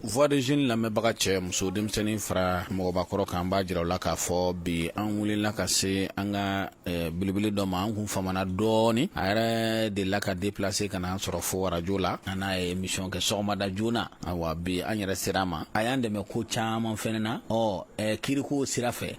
Voix de jeune lamɛnbaga cɛ muso denmisɛnnin fara mɔgɔbakɔrɔ kan b'a jira aw la k'a fɔ bi an wulila ka se an ka belebele dɔ ma an kun famana dɔɔnin a yɛrɛ delila ka déplacer ka na an sɔrɔ fo arajo la an n'a ye émission kɛ sɔgɔmada joona ayiwa bi an yɛrɛ sera a ma a y'an dɛmɛ ko caman fɛnɛ na ɔ kiriko sira fɛ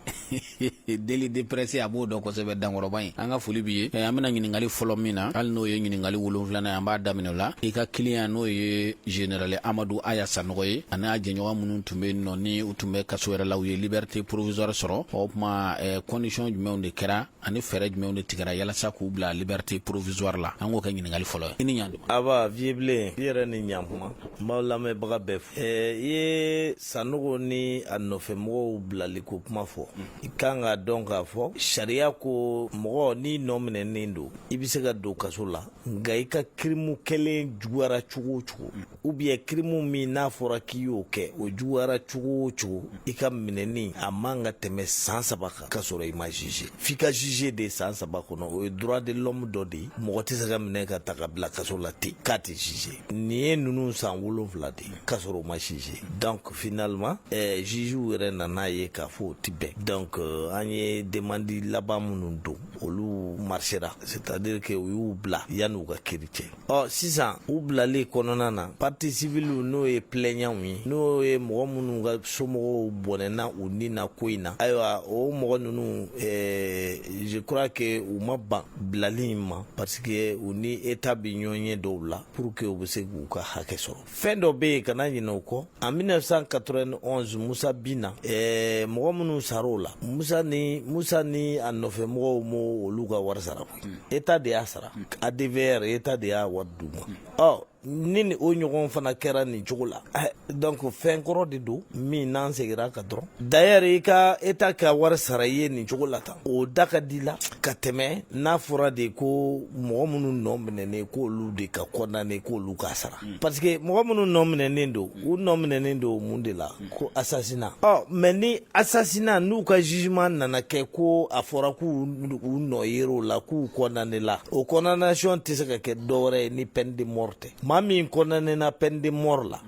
délit de presse a b'o dɔn kosɛbɛ dankɔrɔba in an ka foli b'i ye eh, an bɛna ɲininkali fɔlɔ min na hali n'o ye ɲininkali wolonfilana an b'a daminɛ o la i ka kiliyan n'o ye général amadu aya sanɔgɔ ye ani a jɛɲɔgɔn minnu tun bɛ nɔ ni u tun bɛ kaso yɛrɛ la u ye liberté provisoire sɔrɔ o kuma eh, condition jumɛnw de kɛra ani fɛɛrɛ jumɛnw de tigɛra yalasa k'u bila liberté provisoire la an k'o kɛ ɲininkali fɔlɔ ye i ni ɲantuma aba vieux bilen i yɛrɛ ni ɲantuma n b'aw lamɛnbaga bɛɛ fo eh, i ye Sanɔgɔ ni a nɔfɛ mɔgɔw bilali ko kuma fɔ i ka kan k'a dɔn k'a fɔ sariya ko mɔgɔ n'i nɔ minɛnen don i bɛ se ka don kaso la nka i ka kirimu kɛlen juguyara cogo o cogo ou bien kirimu min n'a fɔra k'i y'o kɛ o juguyara cogo o cogo i ka minɛni a man ka tɛmɛ san saba kan ka sɔrɔ i ma jugé f'i ka jugé de san saba kɔnɔ o ye droit de l'homme dɔ de ye mɔgɔ tɛ se ka minɛ ka ta ka bila kaso la ten k'a tɛ jugé nin ye ninnu san wolonfila de ye ka sɔrɔ u ma jugé donc finalement eh, jugew yɛrɛ nan'a ye k'a fɔ o tɛ bɛn donc euh, an ye demandi laban minnu don olu marsera c'est à dire que u y'u bila yanni u ka kiri cɛ ɔ sisan u bilali kɔnɔna na parti civiliw n'o ye plɛɲanw ye n'o ye mɔgɔ minnu ka somɔgɔw bɔnɛna u ni na ko in na ayiwa o mɔgɔ ninnu eh, je crois que u ma ban bilali in ma parce que u ni eta bɛ ɲɔgɔnye dɔw la pour que u bɛ se k'u ka hakɛ sɔrɔ fɛn dɔ be yen kana ɲinɛ o kɔ en 1991 musa binna eh, mɔgɔ minnu sar'o la musa ni musa ni a nɔfɛ mɔgɔw ma olu ka wari sara koyi hmm. eta de y'a sara hmm. advr eta de y'a wari d'u ma hmm. ɔ ni ni o ɲɔgɔn fana kɛra nin cogo la eh, donc fɛn kɔrɔ de don min n'an segira kan dɔrɔn d'ailleurs i ka eta ka wari sara i ye nin cogo la tan o da ka di la ka tɛmɛ n'a fɔra de ko mɔgɔ minnu nɔ minɛnen k' olu de ka condamné k' olu ka sara mm. parce que mɔgɔ minnu nɔ minɛnen don u nɔ minɛnen don mun de la mm. ko asasina ɔ mais ni asasina n'u ka jugement nana kɛ ko a fɔra k' u nɔ yer'o la k'u condamné la o condamnation tɛ se ka kɛ dɔwɛrɛ ye ni peine de mort tɛ maa min condamné na peine de mort la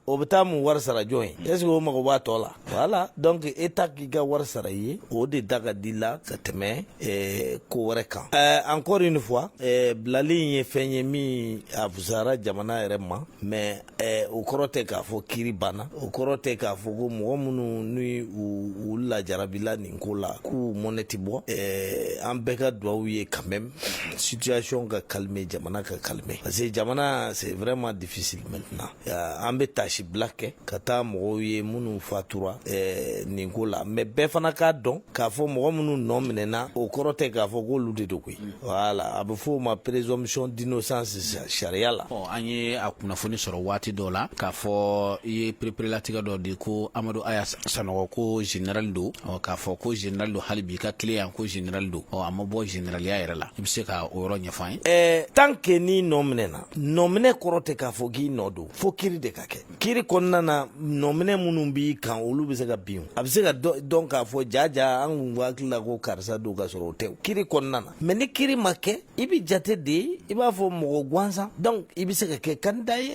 o bɛ taa mun wari sara jɔn ye mm. est ce que o mago b'a tɔ la voilà donc eta k'i ka wari sara i ye o de da ka di la ka tɛmɛ eh, ko wɛrɛ kan eh, encore une fois eh, bilali in ye fɛn ye min a fusara jamana yɛrɛ ma mais eh, o kɔrɔ tɛ k'a fɔ kiri banna o kɔrɔ tɛ k'a fɔ ko mɔgɔ minnu ni u, u lajarabila nin ko la k'u mɔnɛ tɛ bɔ eh, an bɛɛ ka duwawu ye quand même situation ka calmer jamana ka calmer parce que jamana c'est vraiment difficile maintenant an bɛ taasibila kɛ ka taa mɔgɔw ye minnu fatura eh, nin ko la mais bɛɛ fana k'a dɔn k'a fɔ mɔgɔ minnu nɔ minɛna o kɔrɔ tɛ k'a fɔ k'olu de don koyi voilà a bɛ fɔ o ma présomption d'innocence sariya la an ye a kunnafoni sɔrɔ waati dɔ la k'a fɔ i ye pereperelatigɛ dɔ di ko amadu aya sanɔgɔ ko général don k'a fɔ ko général don hali bi ka client ko général don a ma bɔ généraliya yɛrɛ la i bɛ se ka o yɔrɔ ɲɛfɔ an ye eh, tant que n'i nɔ minɛna nɔminɛ kɔrɔ tɛ k'a fɔ k'i nɔ don fo kiri de ka kɛ kiri kɔnɔna na nɔminɛ minnu b'i kan olu bɛ se ka bin a bɛ se ka dɔn k'a fɔ jaja an kun hakili la ko karisa don ka sɔrɔ o tɛ kiri kɔnɔna na mais ni kiri ma kɛ i bɛ jate de i b'a fɔ mɔgɔ gansan donc i bɛ se ka kɛ candidat ye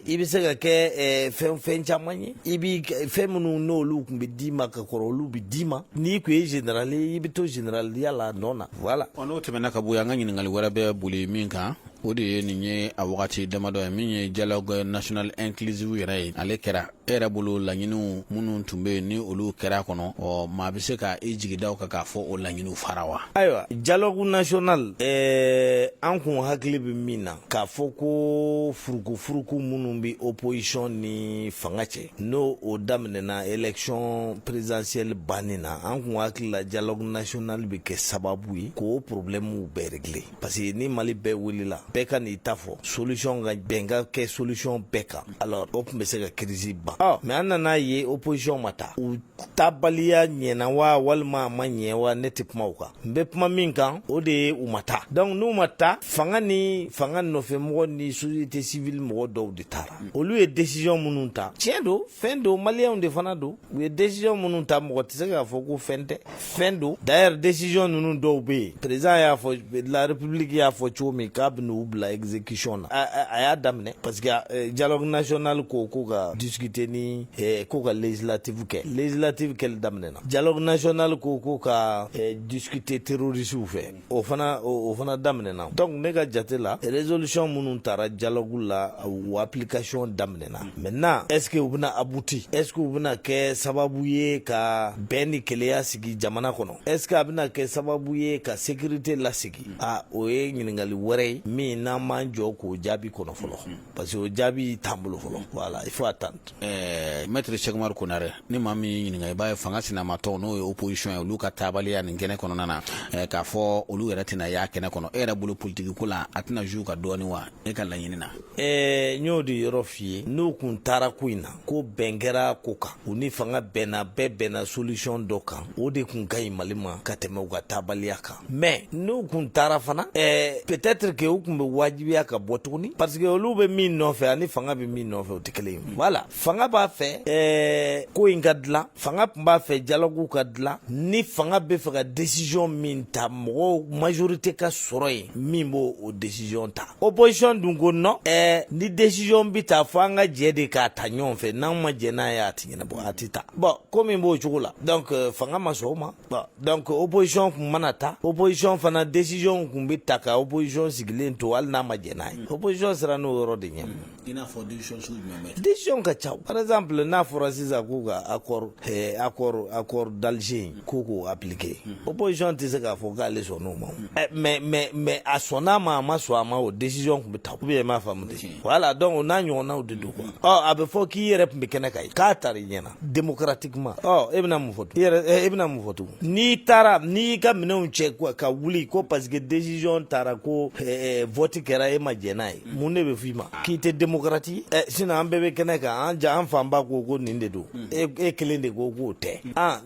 i bɛ se ka kɛ fɛn fɛn caman ye i bɛ fɛn minnu n'olu tun bɛ d'i ma ka kɔrɔ olu bɛ d'i ma n'i tun ye général ye i bɛ to généraliya la nɔ na voilà n'o tɛmɛna ka bɔ yan an ka ɲininkali wɛrɛ bɛ boli min kan o de ye nin ye a wagati damadɔ ye min ye dialogue national inclusive yɛrɛ ye ale kɛra e yɛrɛ bolo laɲiniw minnu tun bɛ yen ni olu kɛra kɔnɔ ɔ maa bɛ se ka i jigi da o kan k'a fɔ o laɲiniw fara wa ayiwa dialogue national ɛɛ an kun hakili bɛ min na k'a fɔ ko furukufuruku minnu bɛ opposition ni fanga cɛ n'o o daminɛna élection présidentielle bannen na an kun hakili la dialogue national bɛ kɛ sababu ye k'o problèmes bɛɛ régler parce que ni mali bɛɛ wulila bɛɛ ka n'i ta fɔ solution ka bɛn ka kɛ solution bɛɛ kan alors o tun bɛ se ka crise ban ɔ mais an nan'a ye opposition ma taa u taabaliya ɲɛna wa walima a ma ɲɛ wa ne tɛ kuma o kan n bɛ kuma min kan o de ye u ma taa donc n'u ma taa fanga ni fanga nɔfɛmɔgɔ ni société civile mɔgɔ dɔw de taara olu ye décision minnu ta tiɲɛ don fɛn don maliyɛnw de fana don u ye décision minnu ta mɔgɔ tɛ se k'a fɔ ko fɛn tɛ fɛn don d'ailleurs décision ninnu dɔw bɛ yen président y'a fɔ de la république y'a fɔ cogo min k'a bɛn'u bila exécution na a y'a daminɛ parce que eh, dialogue national ko ko ka discuter ni eh, ko ka législative kɛ législative kɛli daminɛna dialogue national ko ko ka eh, discuter terroristes fɛ o fana o fana daminɛna donc ne ka jate la résolution minnu tara dialogue la o application daminɛna maintenant est ce que u bɛna abouti est ce que u bɛna kɛ sababu ye ka bɛn ni kelenya sigi jamana kɔnɔ est ce que a bɛna kɛ sababu ye ka sécurité lasigi a o ye ɲininkali wɛrɛ ye min n'an m'an jɔ k'o jaabi kɔnɔ fɔlɔ parce que o jaabi t'an bolo fɔlɔ voilà il faut attendre ɛɛ maître Cheick Oumar Konaré ni maa min y'i ɲininka i b'a ye fanga sinamatɔnw n'o ye opposition ye olu ka taabaliya nin kɛnɛ kɔnɔna na ɛɛ k'a fɔ olu yɛrɛ tɛna y'a kɛnɛ kɔnɔ e yɛrɛ bolo politiki ko la a tɛna jouer u kan dɔɔni wa e ka laɲini na ɛɛ n y'o de yɔrɔ f'i ye n'u kun taara ko in na ko bɛn kɛra ko kan u ni fanga bɛnna bɛɛ bɛnna solution dɔ kan o de kun ka ɲi Mali ma ka tɛmɛ u ka taabaliya kan mais n'u kun taara fana ɛɛ peut-être que u kun bɛ wajibiya ka bɔ tuguni parce que olu bɛ min nɔfɛ ani fanga bɛ min nɔfɛ o tɛ kelen ye voilà fanga b'a fɛ ɛɛ ko in ka dilan fanga tun b'a fɛ dialogue ka dilan ni fanga bɛ fɛ ka décision min ta mɔgɔw majorité ka sɔrɔ yen min b'o o décision ta opposition dun ko non ɛɛ ni décision bɛ ta fo an ka jɛ de k'a ta ɲɔgɔn fɛ n'an ma jɛ n'a ye a tɛ ɲɛnabɔ a tɛ ta bon ko min b'o cogo la donc fanga ma sɔn o ma dɔnkuc ko opzsɔn tun mana ta opzsɔn fana desiyw tun bɛ ta ka oɔn sigilen to hali n'a ma jɛnɛ n'a ye oɔn sera n'o yɔrɔ de ɲɛ ka ca paz bila n'a fɔra sisan k'u ka a a a kɔrɔ dalize ko k'o a pke oɔn tɛ se k'a fɔ k'ale sɔn n'o ma mɛ mɛ mɛ a sɔn n'a ma a ma sɔn a ma o desiy tun bɛ taa u bɛ m'a faamumu wala la dɔn n'a ɲɔgɔnnaw de don a bɛ fɔ k'i yɛrɛ tun bɛ kɛnɛ ka ye k'a ta i ɲɛna démocratiquement e bɛna mun fɔ e bɛna mun fɔ tugun n'i taara n'i y'i ka minɛnw cɛ ka wuli ko parce que décision tara ko vote kɛra e ma jɛn n'a ye mun de bɛ f'i ma k'i tɛ démocrate ye sinon an bɛɛ bɛ kɛnɛ kan an jan an fanba ko ko nin de don e kelen de ko k'o tɛ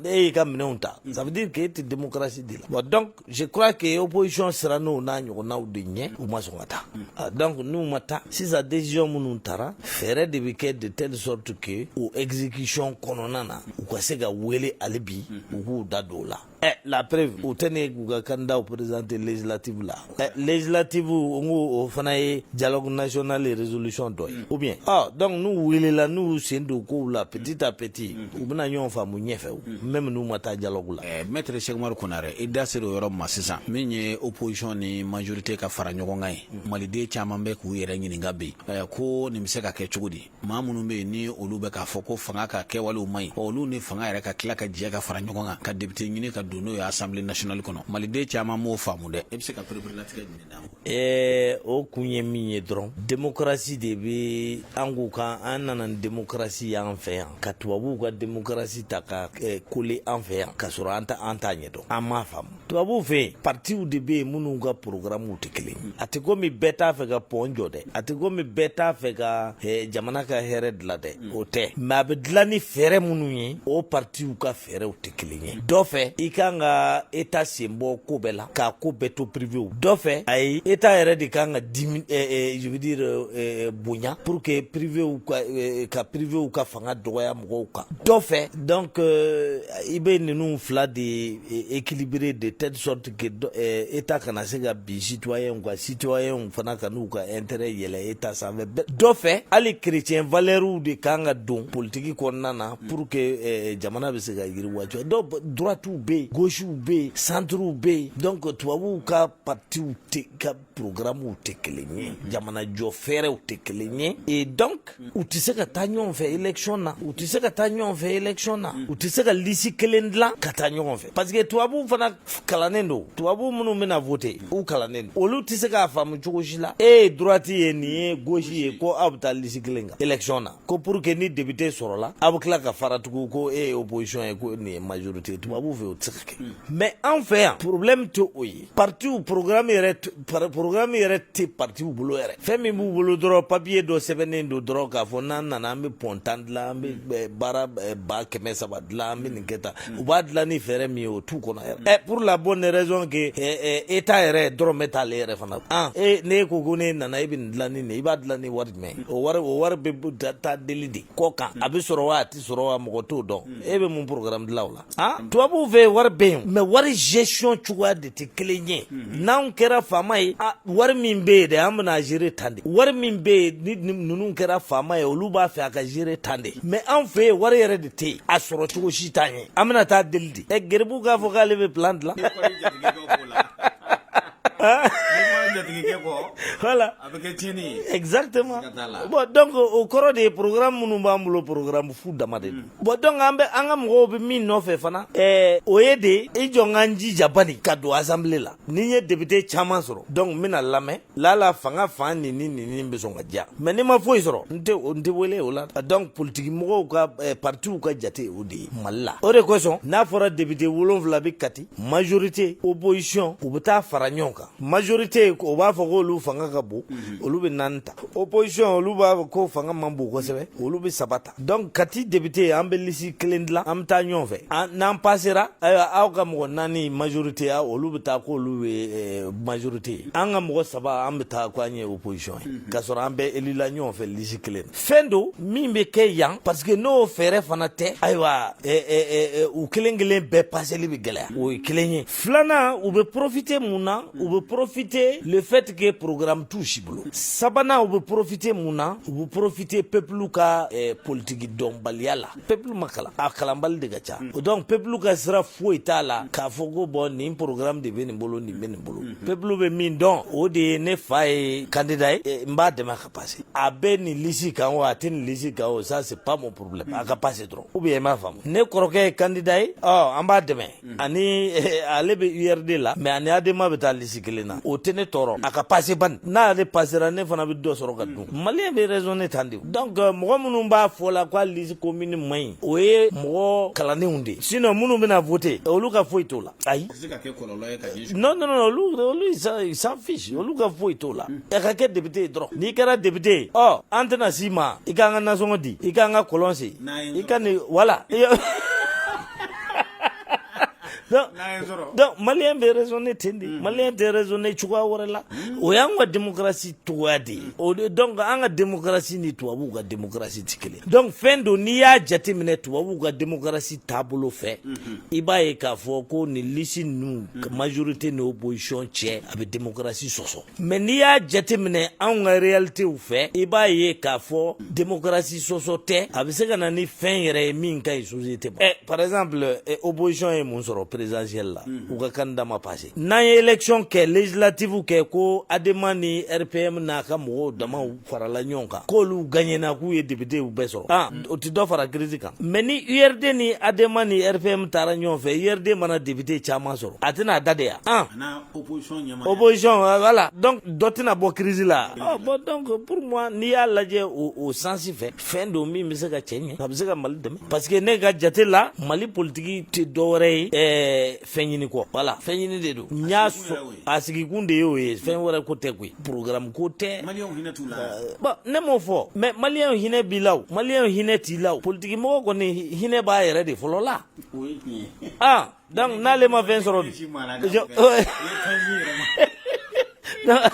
e y'i ka minɛnw ta ça veut dire k'e tɛ démocratie de la je crois que opposition sirann'o n'a ɲɔgɔnnaw de ɲɛ u ma sɔn ka taa ah, donc n'u ma taa sisan décision minnu tara fɛɛrɛ de bɛ kɛ de telle sorte que o exécution kɔnɔna na u ka se ka wele hali bi u k'u da don o la Eh, la preuve u tɛ ne k'u ka candidatw présenter législative la eh, législative n ko o fana ye dialogue national résolution dɔ ye ou bien ah, donc n'u welela n'u sen don kow la petit à petit u bɛna ɲɔgɔn faamu ɲɛfɛ o même n'u ma taa dialogue la ɛɛ maître Sɛki Umaru Konare i da sera o yɔrɔ ma sisan min ye opposition ni majorité ka fara ɲɔgɔn kan ye maliden caman bɛ k'u yɛrɛ ɲininka bi ɛɛ ko nin bɛ se ka kɛ cogo di maa minnu bɛ yen ni olu bɛ k'a fɔ ko fanga ka kɛwalew man ɲi olu ni fanga yɛrɛ ka tila ka jɛ ka fara ɲɔgɔn kan ka député ɲini ka don n'o ye assemblée nationale kɔnɔ maliden caman m'o faamu dɛ e bɛ se ka pereperelatigɛ jumɛn Ɛɛ o kun ye min ye dɔrɔn démocratie de bɛ an k'u kan an nana ni démocratie y'an fɛ yan ka tubabuw ka démocratie ta ka coller an fɛ yan ka sɔrɔ an ta an t'a ɲɛ dɔn an ma faamu tubabuw fɛ yen partiw de bɛ yen minnu ka programmew tɛ kelen a tɛ komi bɛɛ t'a fɛ ka pont jɔ dɛ a tɛ komi bɛɛ t'a fɛ ka jamana ka hɛrɛ dilan dɛ o tɛ mais a bɛ dilan ni fɛɛrɛ minnu ye o partiw ka fɛ fɛɛrɛw tɛ kelen ye dɔ fɛ i kan ka état sen bɔ ko bɛɛ la k'a ko bɛɛ to privéw dɔ fɛ ayi état yɛrɛ de kan ka dimi je veux dire bonya pour que privéw ka ka privéw ka fanga dɔgɔya mɔgɔw kan dɔ fɛ donc i bɛ ninnu fila de équilibrer de telle sorte que état kana se ka bin citoyenw kan citoyenw fana kan'u ka intérêt yɛlɛ état sanfɛ dɔ fɛ hali chrétien valeurw de kan ka don politiki kɔnɔna na Pour que jamana bɛ se ka yiriwa dɔw droitew bɛ yen gauchew bɛ yen centrew bɛ yen donc tubabuw ka partiw ka programmew tɛ kelen ye jamana jɔ fɛɛrɛw tɛ kelen ye e donc u tɛ se ka taa ɲɔgɔn fɛ élection na u tɛ se ka taa ɲɔgɔn fɛ élection na u tɛ se ka lisi kelen dilan ka taa ɲɔgɔn fɛ parce que tubabu fana kalannen don tubabu minnu bɛna voter u kalannen don olu tɛ se k'a faamu cogo si la e ye droite ye nin ye gauche ye ko aw bɛ taa lisi kelen kan élection na ko pour que ni député sɔrɔla aw bɛ tila ka fara tugu ko e ye opposition ye ko nin ye majorité tubabu fɛ o tɛ se ka kɛ mais an fɛ yan problème tɛ o ye partiw programme yɛrɛ programme yɛrɛ tɛ partiw bolo yɛrɛ fɛn min b'u bolo dɔrɔn papier dɔ sɛbɛnnen don dɔrɔn k'a fɔ n'an nana an bɛ pɔn tan dilan an bɛ baara ba kɛmɛ saba dilan an bɛ nin kɛ tan u b'a dilan ni fɛɛrɛ min ye o t'u kɔnɔ yɛrɛ ɛ pour la bonne raison que état yɛrɛ dɔrɔmɛ t'ale yɛrɛ fana na e ne ko ko n'e nana e bɛ nin dilan ni nin ye i b'a dilan ni wari mɛ o wari o wari bɛ taa deli de kɔ kan a bɛ sɔrɔ wa a tɛ sɔrɔ wa mɔgɔ t'o dɔn e bɛ mun programme dilan o la a tubabuw fɛ wari bɛ yen mais wari gestion cogoya de tɛ kelen ye n'an kɛra faama ye wari min bɛ yen de an bɛna gérer tan de wari min bɛ yen ni ninnu kɛra faama ye olu b'a fɛ a ka gérer tan de mais an fɛ yen wari yɛrɛ de tɛ yen a sɔrɔ cogo si t'an ye an bɛna taa deli de ɛ garibu k'a fɔ k'ale bɛ plan dilan Exactement. Bon, donc o kɔrɔ de ye programme minnu b'an bolo programme fu dama de don. Mm. Bon donc an bɛ an ka mɔgɔw bɛ min nɔfɛ fana ɛɛ o ye de i jɔ n ka n jija bani ka don assemblée la ni n ye député caman sɔrɔ donc n bɛna lamɛn laala fanga fan nin ni nin ni bɛ sɔn ka diya mais ni n ma foyi sɔrɔ n tɛ o n tɛ wele o la donc politiki mɔgɔw ka ɛɛ partiw ka jate o de ye Mali la o de kosɔn n'a fɔra député wolonwula bɛ Kati majorité opposition u bɛ taa fara ɲɔgɔn kan majorité o b'a fɔ k'olu fanga ka bon mhm. olu bɛ naani ta opposition olu b'a fɔ ko fanga man bon kosɛbɛ olu bɛ saba ta donc Kati député an bɛ lisi kelen dilan an bɛ taa ɲɔgɔn fɛ n'an pasera ayiwa aw ka mɔgɔ naani majorité ya olu bɛ taa k'olu ye majorité ye an ka mɔgɔ saba an bɛ taa ko an ye opposition ye mhm. k'a sɔrɔ an bɛɛ elila ɲɔgɔn fɛ lisi kelen na fɛn don min bɛ kɛ yan parce que n'o fɛɛrɛ fana tɛ ayiwa u kelen kelen bɛɛ paseli bɛ gɛlɛya o ye kelen ye filanan u bɛ porofite mun na u bɛ porofite le fait que programme t'u si bolo sabanan u bɛ porofite mun na u bɛ porofite pepulu ka politiki dɔnbaliya la pepulu ma kalan a kalanbali de ka ca o donc pepulu ka sira foyi t'a la k'a fɔ ko bon nin programme de bɛ nin bolo nin bɛ nin bolo pepulu bɛ min dɔn o de ye ne fa ye kandida ye n b'a dɛmɛ kan a pase a bɛ nin lisi kan o a tɛ nin lisi kan o ça c'est pas mon problème a ka pase dɔrɔn ou bien i m'a faamu ne kɔrɔkɛ ye candidat ye ɔ an b'a dɛmɛ ani ale bɛ URD la mais a ni Adema bɛ taa lisi kelen na o tɛ ne tɔɔrɔ a ka pase bani n'ale pasera ne fana bɛ dɔ sɔrɔ ka dun maliyɛn bɛ raisonner tan de donc mɔgɔ minnu b'a fɔ la ko a lisi commune man ɲi o ye mɔgɔ kalannenw de sinon minnu bɛna voter olu ka foyi t'o la ayi non non non olu olu ils s'en fiche olu ka foyi t'o la a ka kɛ député ye dɔrɔn n'i kɛra député ye ɔ an tɛna s'i ma i k'an ka nasɔngɔ di i k'an ka kɔlɔn sen i ka nin voilà donc maliyɛn bɛ raisonner ten de maliyɛn tɛ raisonner cogoya wɛrɛ la o y'an ka démocratie cogoya de ye o de donc an ka démocratie ni tubabuw ka démocratie tɛ kelen donc fɛn don n'i y'a jateminɛ tubabuw ka démocratie taabolo fɛ i b'a ye k'a fɔ ko nin lisi ninnu majorite ni opposition cɛ a bɛ demokarasi sɔsɔ mais n'i y'a jateminɛ anw ka realitew fɛ i b'a ye k'a fɔ demokarasi sɔsɔ tɛ a bɛ se ka na ni fɛn yɛrɛ ye min ka ɲi société ma ɛ par exemple opposition ye mun sɔrɔ présidentielle la u ka candidat ma passé n'an ye élection kɛ législative kɛ ko Adema ni RPM n'a ka mɔgɔw damaw farala ɲɔgɔn kan k'olu gaɲɛna k'u ye députéw bɛɛ sɔrɔ aa o tɛ dɔ fara crise kan mais ni URD ni Adema ni RPM taara ɲɔgɔn fɛ URD mana député caman sɔrɔ a tɛna a da de yan opposition voilà donc dɔ tɛna bɔ crise la bon donc pour moi n'i y'a lajɛ o sens fɛ fɛn don min bɛ se ka cɛ ɲɛ a bɛ se ka Mali dɛmɛ parce que ne ka jate la Mali politiki tɛ dɔwɛrɛ ye ɛɛ fɛn ɲini kɔ voilà fɛn ɲini de don n y'a sɔrɔ a sigikun de y'o ye fɛn wɛrɛ ko tɛ koyi programme ko tɛ bon ne m'o fɔ mais maliyɛnw hinɛ b'i la o maliyɛnw hinɛ t'i la o politikimɔgɔ kɔni hinɛ b'a yɛrɛ de fɔlɔ la ah donc n'ale ma fɛn sɔrɔ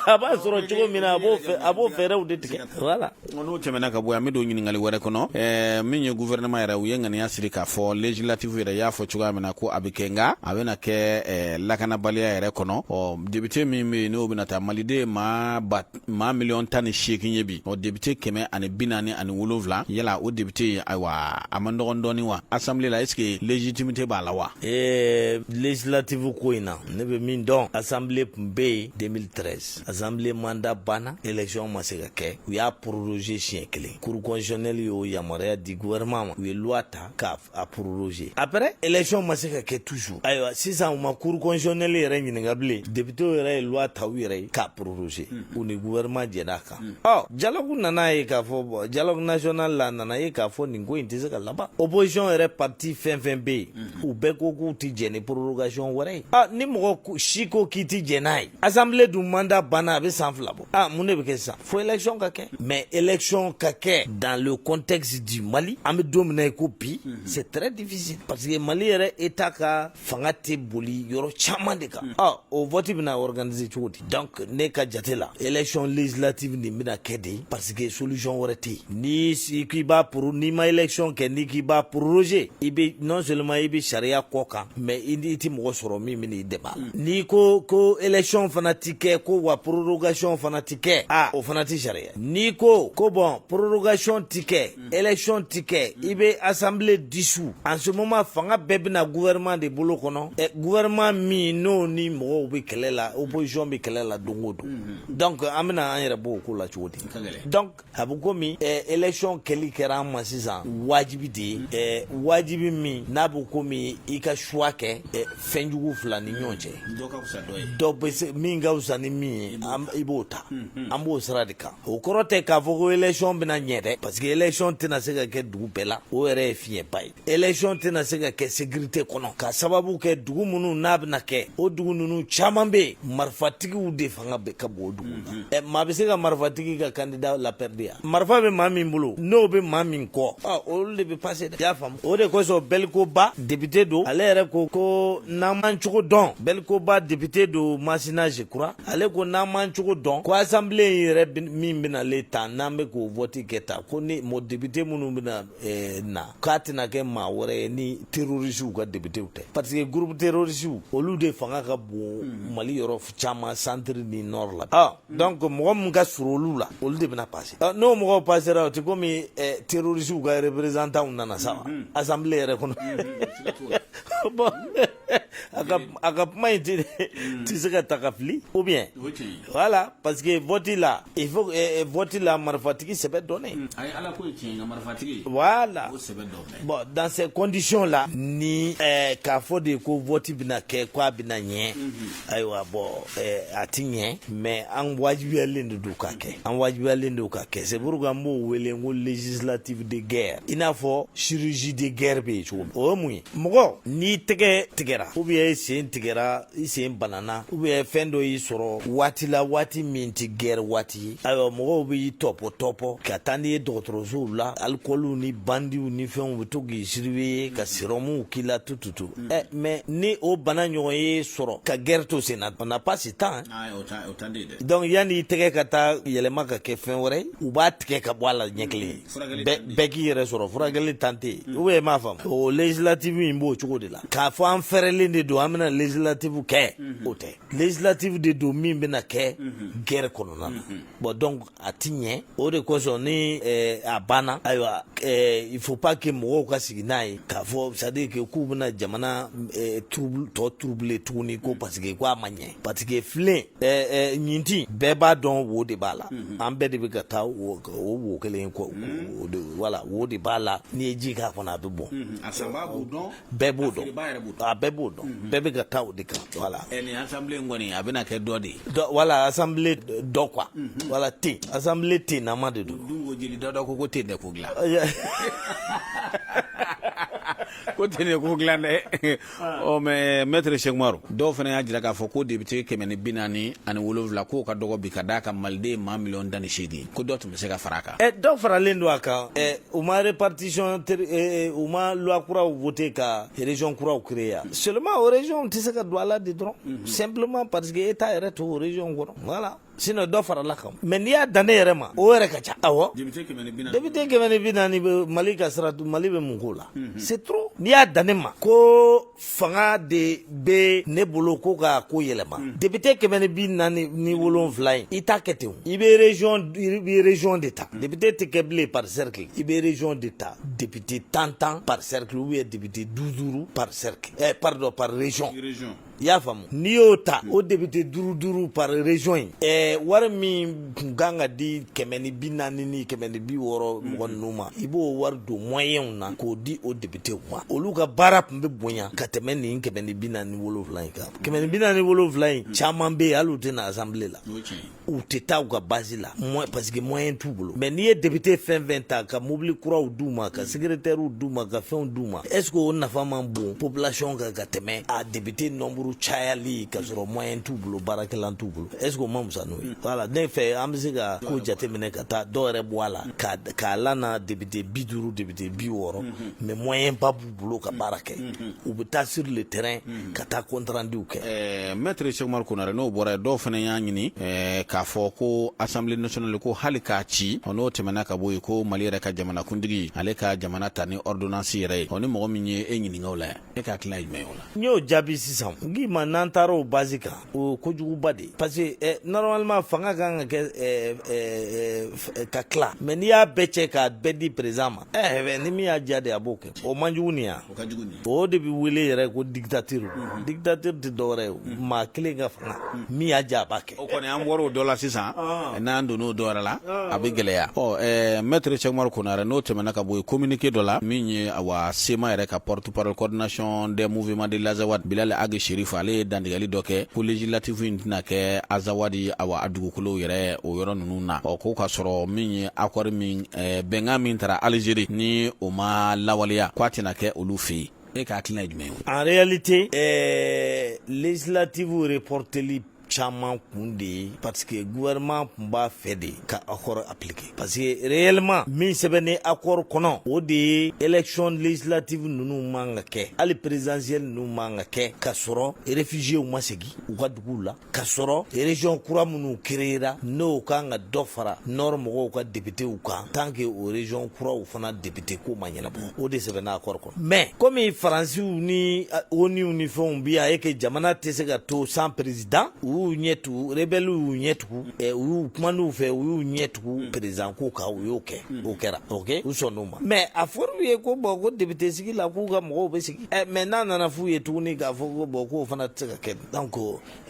a b'a sɔrɔ cogo min na a b'o fɛ a b'o fɛɛrɛw de tigɛ voilà ɔ n'o tɛmɛna ka bɔ yan n be don ɲininkali wɛrɛ kɔnɔ ɛɛ min ye guvɛrɛnɛman yɛrɛ u ye ŋaniya siri k'a fɔ legislatifu yɛrɛ y'a fɔ cogoya min na ko a be kɛ nga a bena kɛ ɛɛ lakanabaliya yɛrɛ kɔnɔ ɔ depite min be yen n'o bena ta maliden ye maa ba maa miliyɔn tan ni seegin ye bi ɔ depite kɛmɛ ani bi naani ani wolonfila yala o depite ye ayiwa a man dɔgɔn dɔɔni wa asanbile la est ce que legitimite b'a la wa ee legislatifu ko in na ne bɛ min dɔn assemblée tun bɛ yen 2013 assemblée mandat banna election ma se ka kɛ u y'a proroger siɲɛ kelen cour constitutionnelle y'o yamaruya di gouvernement ma u ye loi ta k'a proroger après election ma se ka kɛ toujours ayiwa sisan u ma cour constitutionnelle yɛrɛ ɲininka bilen députéw yɛrɛ ye loi ta u yɛrɛ ye k'a proroger u ni gouvernement jɛnn'a kan o dialogue nana ye k'a fɔ bɔn dialogue national la nana ye k'a fɔ nin ko in tɛ se ka laban opposition yɛrɛ parti fɛn fɛn bɛ yen u bɛɛ ko k'u tɛ jɛn ni prorogation wɛrɛ ye aa ni mɔgɔ si ko k'i tɛ jɛn n'a ye assemblée dun mandat banna a bɛ san fila bɔ aa mun de bɛ kɛ sisan fo élection ka kɛ mais élection ka kɛ dans le contexte du mali an bɛ don min na i ko bi c'est très difficile parce que mali yɛrɛ état ka fanga tɛ boli yɔrɔ caman de kan hmm. ah, o vɔti bɛna organise cogo di donc ne ka jate la élection législative nin bɛna kɛ de parce que solution wɛrɛ tɛ yen n'i k'i b'a poro n'i ma élection kɛ n'i k'i b'a proroger i bɛ non seulement i bɛ sariya kɔ kan mais i i tɛ mɔgɔ sɔrɔ min bɛna i dɛmɛ hmm. n'i ko ko élection fana ti kɛ ko wa prorogation fana ti kɛ ah o fana ti sariya n'i ko ko bɔn prorogation ti kɛ Élection tɛ kɛ i bɛ assemblée dissous en ce moment fanga bɛɛ bɛna na gouvernement de bolo kɔnɔ gouvernement min n'o ni mɔgɔw bɛ kɛlɛ la opposition bɛ kɛlɛ la don o don donc an bɛna an yɛrɛ bɔ o ko la cogo di donc a bɛ komi élection kɛli kɛra an ma sisan wajibi de ye wajibi min n'a bɛ komi i ka choix kɛ fɛn jugu fila ni ɲɔgɔn cɛ dɔw bɛ se min ka fisa ni min ye i b'o ta an b'o sira de kan o kɔrɔ tɛ k'a fɔ ko élection bɛna ɲɛ dɛ parce que élection tɛna se ka kɛ dugu bɛɛ la o yɛrɛ ye fiɲɛba ye élection tɛna se ka kɛ sekirite kɔnɔ k'a sababu kɛ dugu minnu n'a bɛna kɛ o dugu ninnu caman bɛ yen marifatigiw de fanga bɛ ka bon o dugu na mhm. ɛ maa bɛ se ka marifatigi ka kandida lapɛridi yan marifa bɛ maa min bolo n'o bɛ maa min kɔ ɔ olu de bɛ pase dɛ i y'a faamu o de kosɔn Belco Ba depite don ale yɛrɛ ko ko n'an m'an cogo dɔn Belco Ba depite don masina je crois ale ko n'an m'an cogo dɔn ko asanbile in yɛrɛ min benalen ta n'an be k'o vɔti kɛ ta ko ni mɔ depite minnu bena eh, na k'a tɛna kɛ maa wɛrɛ ye ni terorisiw ka depitew tɛ paseke gurupu terorisiw olu de fanga ka bon hmm. mali yɔrɔ caman santiri ni nɔr la ah, hmm. donc mɔgɔ min ka surun olu la olu de bena pase ah, n'o mɔgɔw pasera o te komi eh, terorisiw ka representanw nana sa wa hmm, asanbile yɛrɛ kɔnɔ a ka a ka kuma in ti ti se ka ta ka fili ou bien O tiɲɛ ye. voilà parce que vote la il faut eh, eh, vote la marifatigi sɛbɛ dɔnnen A ye ala ko ye tiɲɛ ye nka marifatigi voilà o sɛbɛ dɔ bɛɛ. bon dans ces conditions là ni eh, k'a fɔ de ko vote bɛna kɛ k'a bɛna ɲɛ Ayiwa bon a tɛ ɲɛ mais an wajibiyalen de don k'a kɛ an wajibiyalen don k'a kɛ c'est pourquoi an b'o wele ko législative de guerre i n'a fɔ chirurgie de guerre bɛ yen cogo min o ye mun ye mɔgɔ n'i tɛgɛ tigɛra ou bien i sen tigɛra i sen banana ou bien fɛn dɔ y'i sɔrɔ waati la waati min tɛ guerre waati ye ayiwa mɔgɔw b'i tɔpɔ tɔpɔ ka taa n'i ye dɔgɔtɔrɔsow la alikɔliw ni bandiw ni fɛnw bɛ to k'i surveiller ka sirɔmuw k'i la tout tout tout ɛ mais ni o bana ɲɔgɔn y'i sɔrɔ ka guerre to sen na on n'a pas ce temps donc yanni i tɛgɛ ka taa yɛlɛma ka kɛ fɛn wɛrɛ u b'a tigɛ ka bɔ a la ɲɛ kelen bɛɛ k'i yɛrɛ sɔrɔ furakɛli temps tɛ yen ou bien i m'a faamu o législative in b'o cogo de la k'a fɔ an fɛrɛlen de don an bɛna législative kɛ o tɛ législative de don min bɛna kɛ guerre kɔnɔna na bon donc a ti ɲɛ o de kosɔn ni eh, a banna ayiwa eh, il faut pas que mɔgɔw ka sigi n'a ye k'a fɔ c'est à dire que k'u bɛna jamana eh, trouble tɔ troubler tuguni ko parce que ko a ma ɲɛ parce que filen eh, eh, ɲintin bɛɛ b'a dɔn wo de b'a la an bɛɛ de bɛ ka taa o wo kelen kɔ voilà wo de b'a la n'i ye ji k'a kɔnɔ a bɛ bɔn a bɛɛ b'o dɔn bɛɛ b'o dɔn a bɛɛ b'o dɔn bɛɛ bɛ ka taa o de kan voilà nin assemblée in kɔni a bɛna kɛ dɔ de ye voilà assemblée dɔ quoi voilà ten assemblée ten nama de don dun ko jeli dɔ dɔ ko ko ten dɛ ko dilan ko ten de ko dilan dɛ ɔ mais maître cheick oumar dɔw fana y'a jira k'a fɔ ko député kɛmɛ ni bi naani ani wolonwula k'o ka dɔgɔ bi ka d'a kan maliden maa miliyɔn tan ni seegin ko dɔ bɛ se ka fara kan dɔw faralen don a kan u ma répartition u ma loi kuraw voter ka région kuraw créer yan seulement o région tɛ se ka don a la de dɔrɔn simplement parce que état yɛrɛ t'o région kɔnɔ voilà sinon dɔ farala kan mais n'i y'a dan ne yɛrɛ ma o yɛrɛ ka ca awɔ député kɛmɛ ni bi naani bɛ mali ka sira mali bɛ mun k'o la c'est trop n'i y'a dan ne ma ko fanga de bɛ ne bolo ko ka ko yɛlɛma hmm. député kɛmɛ ni bi naani ni hmm. wolonwula in i t'a kɛ ten i bɛ région i bɛ région de ta hmm. député tɛ kɛ bilen par cercle i bɛ région de ta député tan tan par cercle ou bien député duuru duuru par cercle eh, pardon par région i y'a faamu n'i y'o ta o député duuru duuru par région in eh, wari min kun kan ka di kɛmɛ ni bi naani ni kɛmɛ ni bi wɔɔrɔ mm-hmm. mɔgɔ ninnu ma i b'o wari don moyenw na k'o di o députéw ma olu ka baara tun bɛ bonya ka tɛmɛ nin kɛmɛ ni bi naani wolonwula in kan kɛmɛ ni bi naani wolonwula in mm-hmm. caman bɛ yen hali u tɛ na assemblée la u tɛ taa u ka base la parce que moyen t'u bolo mais n'i ye député fɛn fɛn ta ka mobili kuraw d'u ma ka mm-hmm. secrétairew d'u ma ka fɛnw d'u ma est ce que o nafa man bon population kan ka tɛmɛ a député nombre cayali ka sɔrɔ moyen t'u bolo baarakɛlan t'u bolo est ce que o man fisa n'o voilà ne fɛ an bɛ se ka ko jateminɛ ka taa dɔw yɛrɛ bɔ a la k'a lana député bi duuru député bi wɔɔrɔ mais moyen ba b'u bolo ka baara kɛ u bɛ taa sur le terrain ka taa compte renduw kɛ ɛɛ maître cheick oumar konaré n'o bɔra dɔw fana y'a ɲini k'a fɔ ko assemblée nationale ko hali k'a ci ɔ n'o tɛmɛna ka bɔ yen ko mali yɛrɛ ka jamanakuntigi ale ka jamana ta ni ordonnance yɛrɛ ye ni mɔgɔ min ye e ɲininka o la e ka hakilina ye jumɛn ye o la n y'o jaabi sisan n k'i ma n'an taara o base kan o kojuguba de parce que normalement fanga ka kan ka kɛ ka tila mais n'i y'a bɛɛ cɛ k'a bɛɛ di président ma ɛɛ ni min y'a diya de a b'o kɛ o man jugu nin yan o de bɛ wele yɛrɛ ko dictature dictature tɛ dɔwɛrɛ ye maa kelen ka fanga min y'a diya a b'a kɛ o kɔni an bɔra o dɔ la sisan n'an donna o dɔ wɛrɛ la a bɛ gɛlɛya ɔ maître Cheikh Oumar Konare n'o tɛmɛna ka bɔ yen communiqué dɔ la min ye awa CMA yɛrɛ ka porte parole coordination des mouvements de l'Azawad Bilal Ag Chérif ale ye dantigɛli dɔ kɛ ko législative in tɛna kɛ Azawad awa a dugukolow yɛrɛ o yɔrɔ ninnu na ɔ ko ka sɔrɔ min ye accord min ɛɛ bɛnkan min tara Algérie ni o ma lawaleya k'a tɛna kɛ olu fɛ yen e ka hakilina ye jumɛn ye o la en réalité ɛɛ législative reporteli caman kun de ye parce que gouvernement tun b'a fɛ de ka accord appliquer parce que réellement min sɛbɛnnen accord kɔnɔ o de ye élection législative ninnu man ka kɛ hali présidentielle ninnu man ka kɛ ka sɔrɔ réfugiéw ma segin u ka duguw la ka sɔrɔ région kura minnu créera n'o kan ka dɔ fara nord mɔgɔw ka députéw kan tant que o région kuraw fana député ko ma ɲɛnabɔ o de sɛbɛnna accord kɔnɔ mais comme faransiw ni ONUw ni fɛnw bi a ye que jamana tɛ se ka to sans président u y'u ɲɛ tugu rebellew y'u ɲɛ tugu u y'u kuman'u fɛ u y'u ɲɛ tugu président ko kan u y'o kɛ o kɛra ok u sɔnn'o ma mais a fɔr'u ye ko bon ko député sigi la k'u ka mɔgɔw bɛ sigi mais n'a nana f'u ye tuguni k'a fɔ ko bon k'o fana tɛ se ka kɛ donc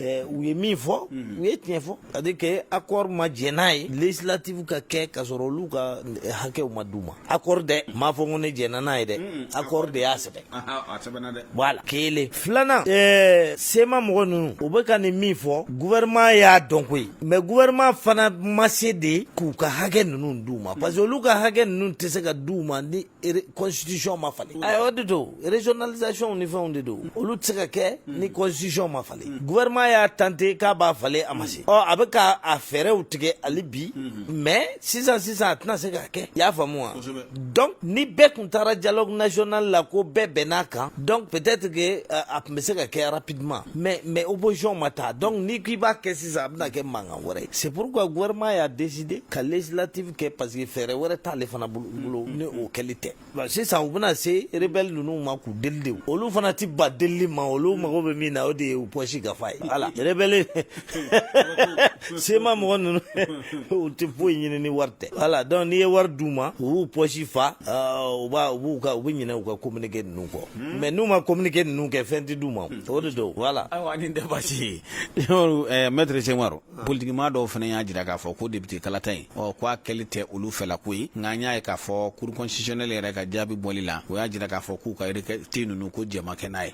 Eh, u ye min fɔ u ye tiɲɛ fɔ c'est à dire que accord ma jɛn n'a ye législative ka kɛ ka sɔrɔ olu ka eh, hakɛw ma d'u ma accord dɛ m'a fɔ ko ne jɛnna n'a ye dɛ accord de y'a sɛbɛn a sɛbɛnna dɛ voilà kelen filanan eh, CMA mɔgɔ ninnu u bɛ ka nin min fɔ gouvernement y'a dɔn koyi mais gouvernement fana ma se de k'u ka hakɛ ninnu d'u ma parce que olu ka hakɛ ninnu tɛ se ka d'u ma ni constitution ma falen o de don régionalisation ni fɛnw de don olu tɛ se ka kɛ ni constitution ma falen gouvernement y'a tenter k'a b'a falen a ma se ɔ a bɛ ka a fɛɛrɛw tigɛ hali bi mais sisan sisan a tɛna se k'a kɛ i y'a faamu wa donc ni bɛɛ tun taara dialogue national la ko bɛɛ bɛnn'a kan donc peut-être que a tun bɛ se ka kɛ rapidement mais mais opposition ma taa donc n'i k'i b'a kɛ sisan a bɛna kɛ mankan wɛrɛ ye c'est pourquoi gouvernement y'a décidé ka législative kɛ parce que fɛɛrɛ wɛrɛ t'ale fana bolo ni o kɛli tɛ Bon, sisan u bɛna se rebelle ninnu ma k'u deli de olu fana ti ban delili ma olu mago bɛ min na o de ye u poche ka fa ye voilà rebelle CMA mɔgɔ ninnu u ti foyi ɲini ni wari tɛ voilà donc n'i ye wari d'u ma u b'u poche fa euh, u b'a u b'u ka u bɛ ɲinɛ u ka communiqué ninnu kɔ mais n'u ma communiqué ninnu kɛ fɛn ti d'u ma o de don voilà ayiwa nin tɛ baasi ye Umaru, eh, maître Cheikh Oumar politikimaa dɔw fana y'a jira k'a fɔ ko depite kalata ye ɔ ko a kɛli tɛ olu fɛla ko ye nka an y'a ye k'a fɔ cour constitutionnelle yɛrɛ ka jaabi bɔli la o y'a jira k'a fɔ k'u ka requête ninnu ko jɛma kɛ n'a ye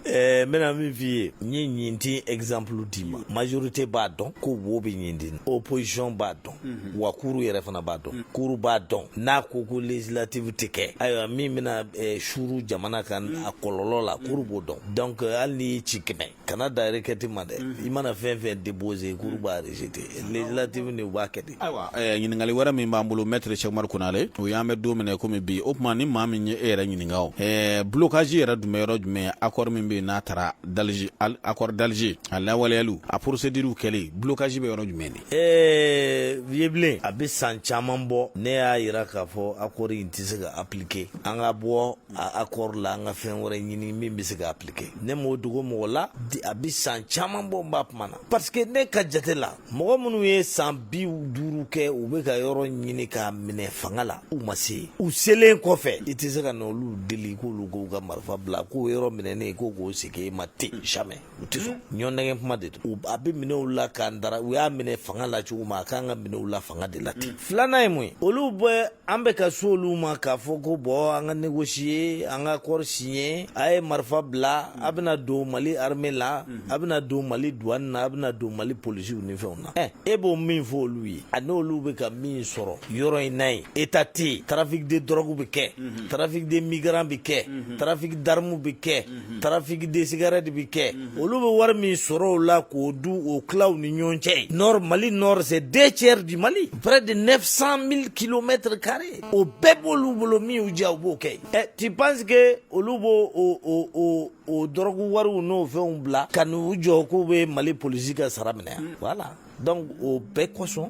n bɛna min f'i ye n ye ɲintin exemple d'i ma majorité b'a dɔn ko wo bɛ ɲintin opposition b'a dɔn mhm. wa cour yɛrɛ fana b'a dɔn mhm. cour b'a dɔn n'a ko ko législative tɛ kɛ ayiwa min bɛna suru jamana kan mhm. a kɔlɔlɔ la cour b'o dɔn donc hali n'i ci kɛmɛ kana da requête ma dɛ mhm. i mana fɛn fɛn déposer cour mhm. b'a rejeter législative ni u b'a kɛ de ayiwa eh, ɲininkali wɛrɛ min b'an bolo maître cheikh oumar konare o y'an bɛ don minɛ komi bi o tuma ni maa min ye e yɛrɛ ɲininka o eh, blocage yɛrɛ dun bɛ yɔrɔ jumɛn accord min bɛ yen n'a tara d'alger accord d'alger a lawaleyaliw a procédure kɛlen blocage bɛ yɔrɔ jumɛn de eh, vieux a bɛ san caman bɔ ne y'a yira k'a fɔ accord in tɛ se ka appliquer an ka bɔ a accord la an ka fɛn wɛrɛ ɲini min bɛ se ka appliquer ne m'o dogo mɔgɔ la a bɛ san caman bɔ n b'a kuma na parce que ne ka jate la mɔgɔ minnu ye san bi duuru kɛ u bɛ ka yɔrɔ ɲini k'a minɛ fanga la u ma se u selen kɔfɛ i tɛ se ka na olu deli k'olu k'u ka marifa bila k'o yɔrɔ minɛnen k'o k'o segin e ma ten jamais u tɛ sɔn ɲɔgɔn nɛgɛn kuma de don a bɛ minɛ u la k'an dara u y'a minɛ fanga la cogo min a k'an k'a minɛ u la fanga de la ten filanan ye mun ye olu bɛ an bɛ ka so olu ma k'a fɔ ko bon an ka négocier an ka accord signer a ye marifa bila a bɛna don mali armée la a bɛna don mali douane na a bɛna don mali polisiw ni fɛnw na ɛ e b'o min fɔ olu ye a n'olu bɛ ka min sɔrɔ yɔrɔ in na ye état tɛ yen trafic de drogue bɛ kɛ trafic de migrant bɛ kɛ trafic d'armes bɛ kɛ trafic de cigarette bɛ kɛ olu bɛ wari min sɔrɔ o la k'o dun k'o tila u ni ɲɔgɔn cɛ nord mali nord c'est deux tiers du mali près de 900 mille kilomètres carré o bɛɛ b'olu bolo min y'u diya u b'o kɛ ɛ tu penses que olu b'o o o o o dɔrɔgu wariw n'o fɛnw bila ka n'u jɔ k'u bɛ mali polisi ka sara minɛ yan voilà donc o bɛɛ kosɔn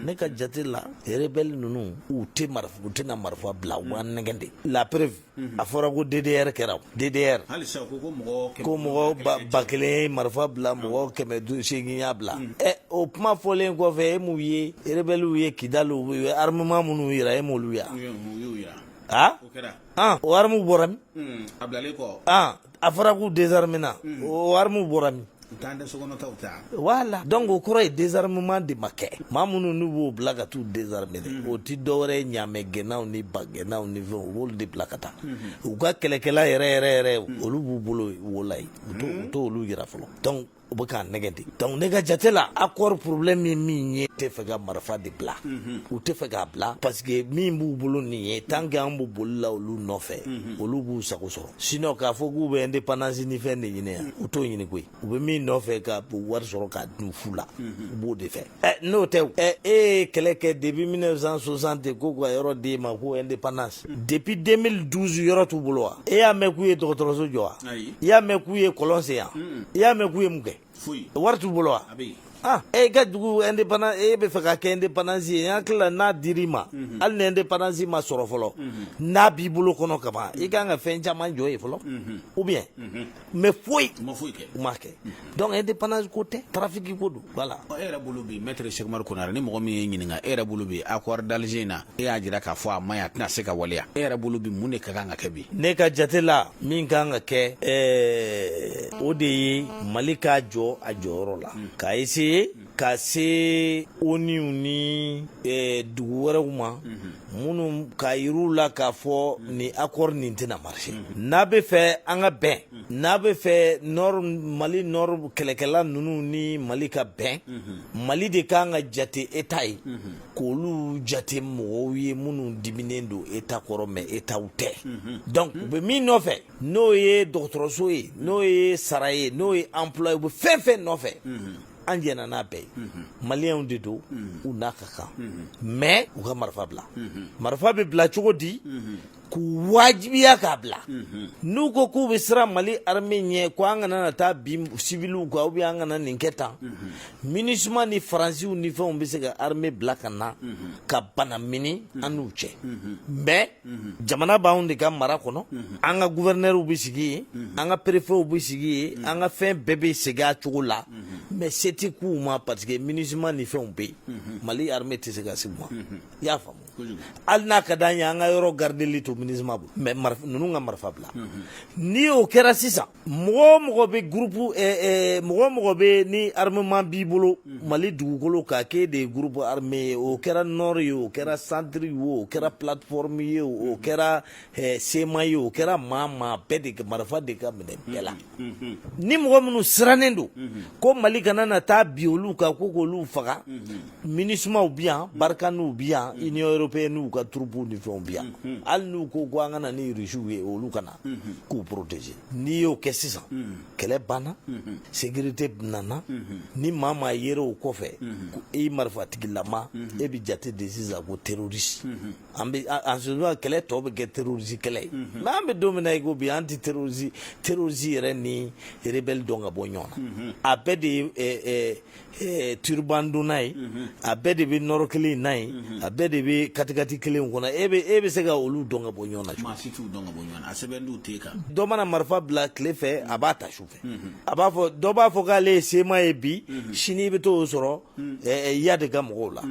ne ka jate la rebelle ninnu u tɛ marifa u tɛna marifa bila u b'an nɛgɛn de la preuve a fɔra ko ddr kɛra ddr ko mɔgɔ ba kelen ye marifa bila mɔgɔ kɛmɛ seegin y'a bila ɛ o kuma fɔlen kɔfɛ e m'u ye rebellew ye kidali u ye armement minnu yira e m'olu ye wa o armes bɔra min a fɔra k'u désarmer na o armes bɔra min voilà donc o kɔrɔ ye désarmement de ma kɛ maa minnu n'u b'o bila ka t'u désarmer o tɛ dɔwɛrɛ ye ɲamɛ gɛnnaw ni ba gɛnnaw ni fɛnw u b'olu de bila ka taa u ka kɛlɛkɛla yɛrɛ yɛrɛ yɛrɛ olu b'u bolo wolayi u u t'olu yira fɔlɔ u bɛ k'a nɛgɛn de donc ne ka jate la accord problème ye min ye tɛ fɛ ka marifa de bila u tɛ fɛ k'a bila parce que min b'u bolo nin ye tant que an bɛ boli la olu nɔfɛ olu b'u sago sɔrɔ sinon k'a fɔ k'u bɛ indépendance ni fɛn de ɲini yan u t'o ɲini koyi u bɛ min nɔfɛ ka wari sɔrɔ k'a dun fu la u b'o de fɛ N'o tɛ e ye kɛlɛ kɛ depuis mille neuf cent soixante ko ka yɔrɔ d'e ma ko indépendance depuis deux mille douze yɔrɔ t'u bolo wa e y'a mɛn k'u ye dɔgɔtɔrɔso jɔ wa i y'a mɛn k'u ye kɔlɔn sen yan i y'a mɛn k'u ye mun kɛ wari t'u bolo wa aaa e ka dugu indépendance e bɛ fɛ ka kɛ indépendance ye n hakili la n'a dir'i ma hali ni indépendance ma sɔrɔ fɔlɔ n'a b'i bolo kɔnɔ kaban i ka kan ka fɛn caman jɔ ye fɔlɔ ou bien mais foyi ma kɛ donc indépendance ko tɛ trafic ko don voilà e yɛrɛ bolo bi maître Cheikh Umaru Konare ni mɔgɔ min y'e ɲininka e yɛrɛ bolo bi accord d'Alger na e y'a jira k'a fɔ a man ɲi a tɛna se ka waleya e yɛrɛ bolo bi mun de ka kan ka kɛ bi ne ka jate la min ka kan ka kɛ ɛɛ o de ye mali ka jɔ a jɔyɔrɔ la k'a essayer ka se ONU ni eh, dugu wɛrɛw ma minnu k'a yir'u la k'a fɔ ni accord nin tɛna marcher n'a bɛ fɛ an ka bɛn n'a bɛ fɛ nord mali nord kɛlɛkɛla ninnu ni mali ka bɛn mali de kan ka jate État ye k'olu jate mɔgɔw ye minnu diminen don État kɔrɔ mais Étatw tɛ donc u bɛ min nɔfɛ n'o ye dɔgɔtɔrɔso ye n'o ye sara ye n'o ye emploi ye u bɛ fɛn fɛn nɔfɛ an jɛnna n'a bɛɛ ye maliyɛnw de don u n'a ka kan mais u ka marifa bila marifa bɛ bila cogo di k'u wajibiya k'a bila n'u ko k'u bɛ siran mali armée ɲɛ ko an kana na taa bin civilw kan ou bien an kana nin kɛ tan MINUSMA ni faransiw ni fɛnw bɛ se ka armée bila ka na ka banamini an n'u cɛ mais jamana b'anw de ka mara kɔnɔ an ka guvɛrnɛriw bɛ sigi yen an ka perefew bɛ sigi yen an ka fɛn bɛɛ bɛ segin a cogo la mais se tɛ k'u ma parce que MINUSMA ni fɛnw bɛ yen mali armée tɛ se ka se u ma i y'a faamu hali n'a ka d'an ye an ka yɔrɔ gardeli to MINUSMA bolo mais ninnu ka marifa bila ni o kɛra sisan mɔgɔ o mɔgɔ bɛ groupe mɔgɔ o mɔgɔ bɛ ni armement b'i bolo mali dugukolo kan k'e de ye groupe armé ye o kɛra nord ye o kɛra centre wo o kɛra plateforme ye o kɛra CMA ye o kɛra maa maa bɛɛ de kɛ marifa de ka minɛ bɛɛ la ni mɔgɔ minnu sirannen don ko mali kana na taa bin olu kan ko k'olu faga MINUSMAw bɛ yan Barkhanew bɛ yan Union européenne n'u ka troupe ni fɛnw bi yan hali n'u ko ko an ka na ni rusiw ye olu kana na k'u protéger n'i y'o kɛ sisan kɛlɛ banna sécurité nana ni maa maa yera o kɔfɛ ko e marifatigilama e bɛ jate de sisan ko terroriste an bɛ kɛlɛ tɔ bɛ kɛ terroriste kɛlɛ ye mais an bɛ don min na i ko bi an tɛ te- terroriste yɛrɛ ni rebelle dɔn ka bɔ ɲɔgɔn na a bɛɛ de ye Eh, turban donna ye mhm. a bɛɛ de bɛ nɔrɔ kelen na ye mhm. a bɛɛ de bɛ katikati kelen kɔnɔ e bɛ e bɛ se ka olu dɔn ka bɔ ɲɔgɔn na maa si t'u dɔn ka bɔ ɲɔgɔn na a sɛbɛnnen t'e kan dɔ mana marifa bila tile fɛ a b'a ta su fɛ mhm. a b'a fɔ dɔ b'a fɔ k'ale ye CMA ye bi sini i bɛ t'o sɔrɔ eh, eh, Iyad ka mɔgɔw la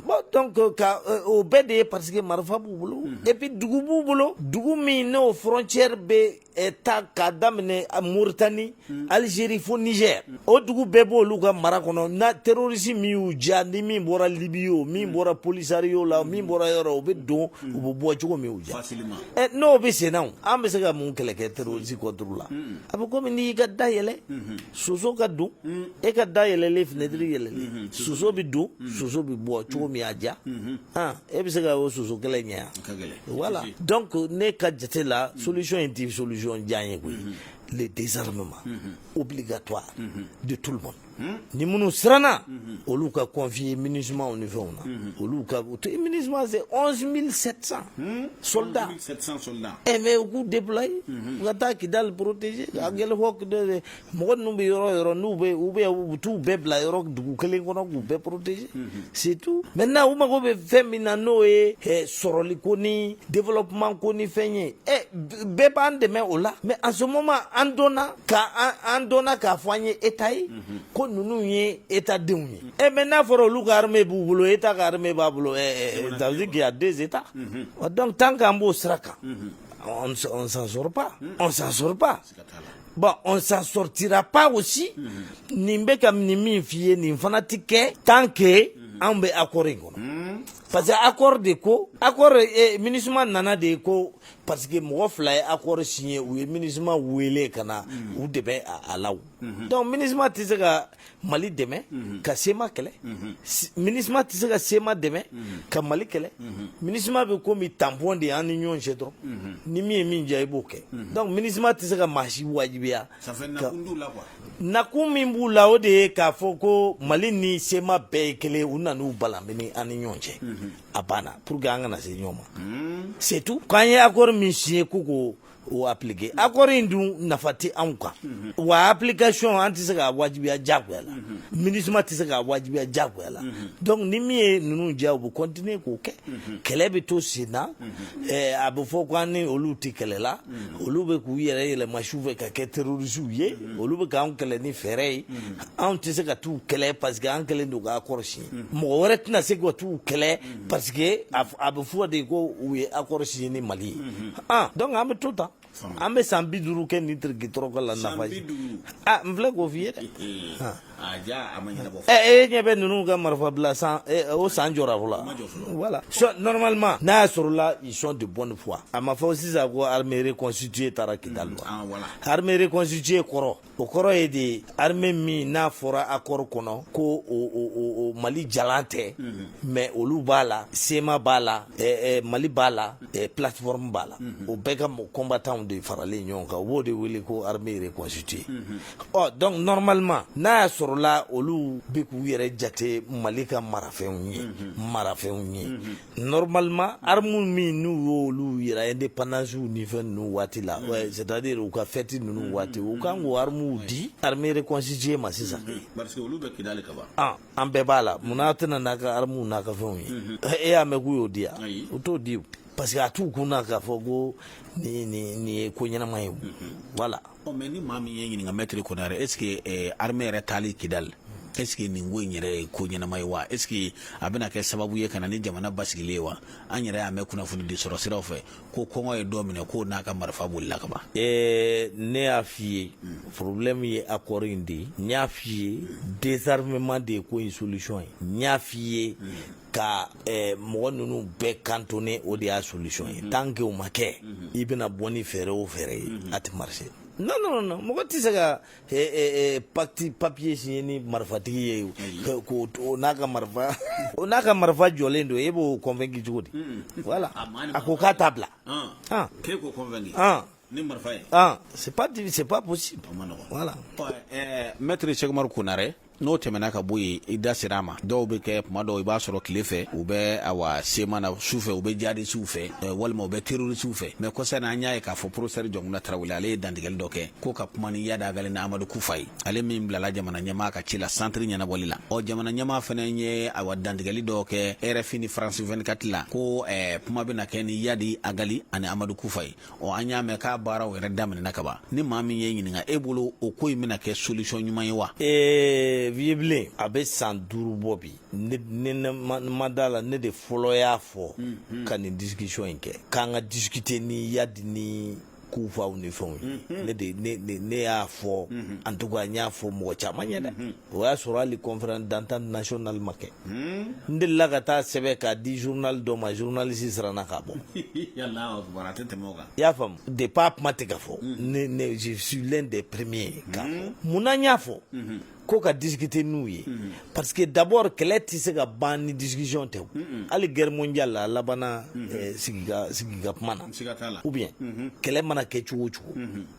bon donc ka o bɛɛ de ye parce que marifa b'u bolo et puis dugu b'u bolo dugu min n'o frontière bɛ ta k'a daminɛ Mauritanie Algérie fo Niger o dugu bɛɛ b'olu ka mara kɔnɔ na terroriste min y'u diya ni min bɔra Libye o min bɔra Polisario la min bɔra yɔrɔ o bɛ don u bɛ bɔ cogo min y'u diya n'o bɛ senna an bɛ se ka mun kɛlɛ kɛ terroriste contre la a bɛ komi n'i ka da yɛlɛ soso ka don e ka da yɛlɛlen fenêtre yɛlɛlen soso bɛ don soso bɛ bɔ cogo min y'a diya e bɛ se ka o soso kelen ɲɛ wala dɔn ko ne ka jate la solisɔn in tɛ solisɔn diya ye koyi le dezsarime ma o bi ka to de tu ma ni minnu siranna olu ka kɔnfi ye mini sumamaw ni fɛnw na olu ka to i mini suma se mi sɛsan soda ɛ mɛ u k'u dela ka taa kidali porotese a gɛlɛn mɔgɔ ninnu bɛ yɔrɔ yɔrɔ n'u bɛ u bɛ u t'u bɛɛ bila yɔrɔ dugu kelen kɔnɔ k'u bɛɛ protéger c'est tout maintenant u mago bɛ fɛn min na n'o ye eh, sɔrɔli ko ni développement ko ni fɛn ye ɛ eh, bɛɛ b'an dɛmɛ o la mais en ce moment an dɔnna ka an an dɔnna k'a fɔ an ye état ye ko ninnu ye état denw ye ɛ mais n'a fɔra olu ka armée b'u bolo état ka armée b'a bolo ɛ ça veut dire qu'il y a deux états donc tant qu'an b'o sira kan on ne s- on s'en sort pas on s'en sort pas Bon on s'en sortira pas aussi ne bɛ ka nin min f'i ye nin fana tɛ kɛ tant que anw bɛ accord in kɔnɔ parce que accord de ko accord Minusma nana de ko parce que mɔgɔ fila ye accord signé u ye Minusma wele ka na u dɛmɛ a la o donc Minusma tɛ se ka mali dɛmɛ mhm. ka CMA kɛlɛ mhm. Minusma tɛ se ka CMA dɛmɛ mhm. ka mali kɛlɛ Minusma bɛ komi tampon de y'an ni ɲɔgɔn cɛ dɔrɔn ni min ye min diya i b'o kɛ donc Minusma tɛ se ka maa si wajibiya nakun min b'u la o de ye k'a fɔ ko mali ni CMA bɛɛ ye kelen u nan'u balamini an ni ɲɔgɔn cɛ a banna pour que an kana se ɲɔgɔn ma c'est tout k'an ye accord min signé k'u ko o appliqué accord in dun nafa tɛ anw kan wa application an tɛ se k'a wajibiya diyagoya la MINUSMA tɛ se k'a wajibiya diyagoya la donc ni min ye ninnu diya u bɛ continuer k'o kɛ kɛlɛ bɛ to sen na eh, a bɛ fɔ ko an ni olu tɛ kɛlɛ la olu bɛ k'u yɛrɛ yɛlɛma su fɛ ka kɛ terrorisiw ye olu bɛ k'an kɛlɛ ni fɛɛrɛ ye anw tɛ se ka t'u kɛlɛ parce que an kɛlen don ka accord signé mɔgɔ wɛrɛ tɛna se ka t'u kɛlɛ parce que a bɛ fɔ de ko u ye accord signé ni Mali ye aa donc an bɛ to tan an bɛ san bi duuru kɛ nin tirikitɔrɔkɔ la nafa ye aa n filɛ k'o f'i ye dɛ e ɲɛ bɛ ninnu ka marifa bila o san jɔra fɔlɔ voilà normalement n'a y'a sɔrɔ la ils sont de bonne foi a ma fɔ sisan ko armée reconstituée taara Kidali wa armée reconstituée kɔrɔ o kɔrɔ ye de armée min n'a fɔra accord kɔnɔ ko o o o o Mali jalan tɛ mhm. mais olu b'a la CMA b'a la ɛ eh, ɛ eh, Mali b'a la ɛ eh, plateforme b'a la mhm. o bɛɛ ka combattants de faralen ɲɔgɔn kan u b'o de wele ko armée reconstituée ɔ mhm. oh, donc normalement n'a y'a sɔrɔla olu bɛ k'u yɛrɛ jate Mali ka marafɛnw ye marafɛnw ye Normalement armes min n'u y'olu jira indépendance ni fɛn ninnu waati la c'est à dire u ka fête ninnu waati u kan k'o armes di armée reconstituée ma sisan, parce que olu bɛ Kidali ka ban, ɔ an bɛɛ b'a la munna a tɛ na n'a ka armes n'a ka fɛnw ye e y'a mɛn k'u y'o di wa? Ayi, u t'o di parce que a t'u kun na k'a fɔ ko nin nin nin ye ko ɲɛnama ye o, voilà Ɔ mais ni maa min y'i ɲininka maître Konare est-ce que armée yɛrɛ taali Kidali est-ce que nin ko in yɛrɛ ye ko ɲɛnama ye wa est-ce que a bɛna kɛ sababu ye ka na ni jamana basigilen ye wa an yɛrɛ y'a mɛn kunnafoni di sɔrɔ siraw fɛ ko kɔngɔ ye dɔ minɛ k'o n'a ka marifa bolila kaban ɛɛ ne y'a f' i ye problème ye accord in de ye n y'a f' i ye désarmement de ye ko in solution ye n y'a f' i ye ka eh, mɔgɔ ninnu bɛɛ cantonné o de y'a solution ye tant que o ma kɛ i bɛna bɔ ni fɛɛrɛ o fɛɛrɛ ye a tɛ marché non non non mɔgɔ tɛ se ka eh, eh, eh, pacte papier signé ni marifatigi ye o. Ka- k'o to- o n'a ka marifa o n'a ka marifa jɔlen don e b'o convaincu cogo di voilà a ko k'a t'a bila Ah, k'e k'o convaincu ah. Ni marifa ye aa c'est pas diffi c'est pas possible o man nɔgɔn voilà ɔ ɛɛ maître Cheick Umaru Konare n'o tɛmɛna ka bɔ yen i da sera a ma dɔw bɛ kɛ tuma dɔw i b'a sɔrɔ tile fɛ u bɛ awa CMA na su fɛ u bɛ jihadisiw fɛ ɛɛ walima u bɛ terrorisiw fɛ mais kɔsa in na an y'a ye k'a fɔ professeur Jɔnkunda Tarawele ale ye dantigɛli dɔ kɛ ko ka kuma ni Yadi Agali ni Amadu Kufa ye ale min bilala jamana ɲɛmaa ka ci la centre ɲɛnabɔli la ɔ jamana ɲɛmaa fana ye awa dantigɛli dɔ kɛ RFI ni France 24 la ko ɛɛ kuma bɛna kɛ ni Yadi Agali ani Amadu Kufa ye ɔ an y'a mɛn k'a baaraw yɛrɛ daminɛna ka ban ni maa min ye ɲininka e bolo o ko in bɛna kɛ solution ɲuman ye wa ee vieux bilen a bɛ san duuru bɔ bi ne ne ne ma ma da la ne de fɔlɔ y'a fɔ ka nin discussion in kɛ k'an ka discuter ni yadi ni kufaw ni fɛnw ye ne de ne ne ne y'a fɔ en tout cas n y'a fɔ mɔgɔ caman ye dɛ o y'a sɔrɔ hali conférence d'entente nationale ma kɛ n delila ka taa sɛbɛn k'a di journal dɔ ma journaliste siranna k'a bɔ i y'a faamu depuis a kuma tɛ ka fɔ ne je suis l'un des premiers ka munna n y'a fɔ ko ka discuter n'u ye parce que d'abord kɛlɛ tɛ se ka ban ni discussion tɛ hali guerre mondiale labanna sigi ka kuma na ou bien kɛlɛ mana kɛ cogo o cogo